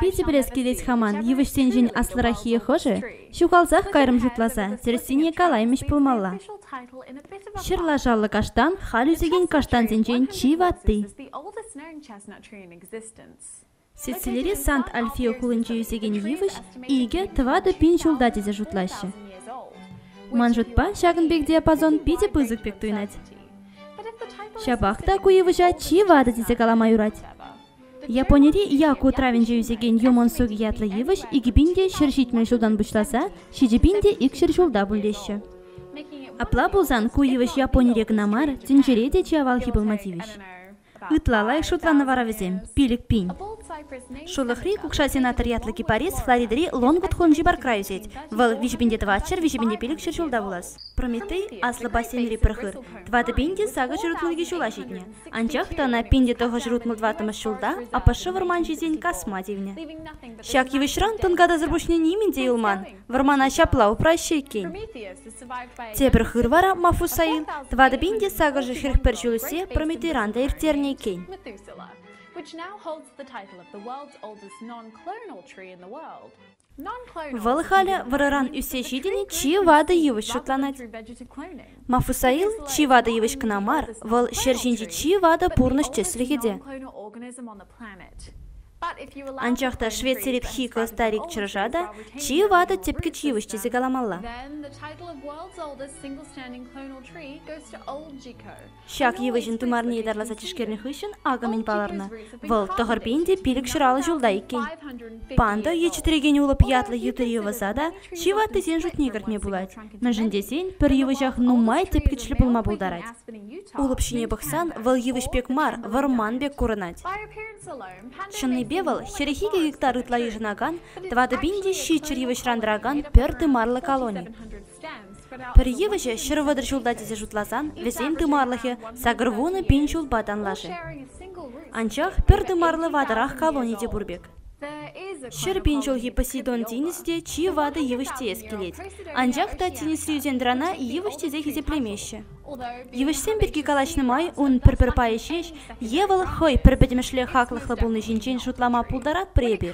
Питӗ пӗлес килет хаман, йывӑҫсенчен аслӑраххийӗ хӑшӗ ҫухалсах кайрӑм шутласа, тӗрӗссине калаймӗҫ пулмалла. Ҫӗр лашаллӑ каштан халь ӳсекен каштансенчен чи ватти. Сицилири Сант-Альфио хулинче ӳсекен йывӑҫ икӗ, тӑватӑ пин ҫулта тесе шутлаҫҫӗ. Ман шутпа, ҫакӑн пек диапазон питӗ пысӑк пек туйӑнать. Ҫапах та ку йывӑҫа чи ватӑ тесе калама юрать. Японири Яку утравӗнче ӳсекен Юмансуги ятлӑ йывӑҫ икӗ пин те ҫӗр ҫитмӗл ҫултан пуҫласа ҫичӗ пин те икҫӗр ҫулта пулеҫҫӗ. Апла пулсан ку йывӑҫ Японире кӑна мар, тӗнчере те чи авалхи пулма тивӗҫ. Ытла лайӑх шутланӑ вара вӗсем, пилӗк пин. Шурлӑхри кукша сенатор ятлӑ кипарис Флоридӑри Лонгвуд-Хунджи паркра ӳсет. Вӑл виҫӗ пин те тӑватҫӗр, виҫӗ пин те пилӗкҫӗр ҫулта пулас. Прометей аслӑ бассейнри пӗр хыр, тӑватӑ пин те сакӑр ҫӗр ун икӗ ҫула ҫитнӗ. Анчах та ӑна пин те тӑхӑҫ рутмӑ тӑваттӑмӗш ҫулта АПШ вӑрманҫисен касма тивнӗ. Ҫак йывӑҫран тӑнкатасӑр пуҫне нимӗн те юлман. Вӑрмана ҫапла упраҫҫӗ иккен. Тепӗр хыр вара Мафусаин тӑватӑ пин те сакӑршӗ хӗрӗхпӗр ҫул ӳссе Прометейран та ирттернӗ иккен. which now holds the title of the world's oldest non-clonal tree in the world. Вӑл халӗ вӑрӑран ӳссе ҫитӗн чи ватӑ йывӑҫ шутланать. Мафусаил чи ватӑ йывӑҫ кӑна мар, вӑл ҫӗр ҫинчи чи ватӑ пурнӑҫ тӗслӗхӗ те. Анчах та Швеци репхико старик чӑрӑша та чи ватӑ тӗпкӗч йывӑҫ тесе каламалла. Ҫак йывӑҫӑн тымарне ятарласа тишкернӗ хыҫҫӑн акӑ мӗн палӑрнӑ. Вӑл тӑхӑрпин те пилӗк ҫуралнӑ ҫулта иккен. Панда е чӗтрекен улӑп ятлӑ йытӑ йӑвӑса та чи ваттисен шутне кӗртме пулать. Мӗншӗн тесен пӗр йывӑҫах нумай тӗпкӗчлӗ пулма пултарать. Улӑп ҫине пӑхсан вӑл йывӑҫ пек мар, вӑрман пек курӑнать. Чӑннипе вӑл хӗрӗх гектар ытла йышӑнакан, тӑватӑ пин те ҫиччӗр йывӑҫран тӑракан пӗр тымарлӑ колони. Пӗр йывӑҫӗ ҫӗр вӑтӑр ҫулта тесе шутласан вӗсен тымарлӑхӗ сакӑр вунӑ пин ҫулпа танлашӗ. Анчах пӗр тымарлӑ ватӑрах колони те пур пек. Ҫӗр пин ҫулхи Посейдон тинӗсӗ те чи ватӑ йывӑҫ теес килет. Анчах та тинӗсри ӳсен-тӑрана йывӑҫ тесе хисеплемеҫҫӗ. Йывӑҫсем пирки калаҫнӑ май ун пӗр-пӗр пайӗ ҫеҫ е вӑл хӑй пӗр пӗтӗмӗшле хаклӑхлӑ пулни ҫинчен шутлама пултаратпӑр эпир.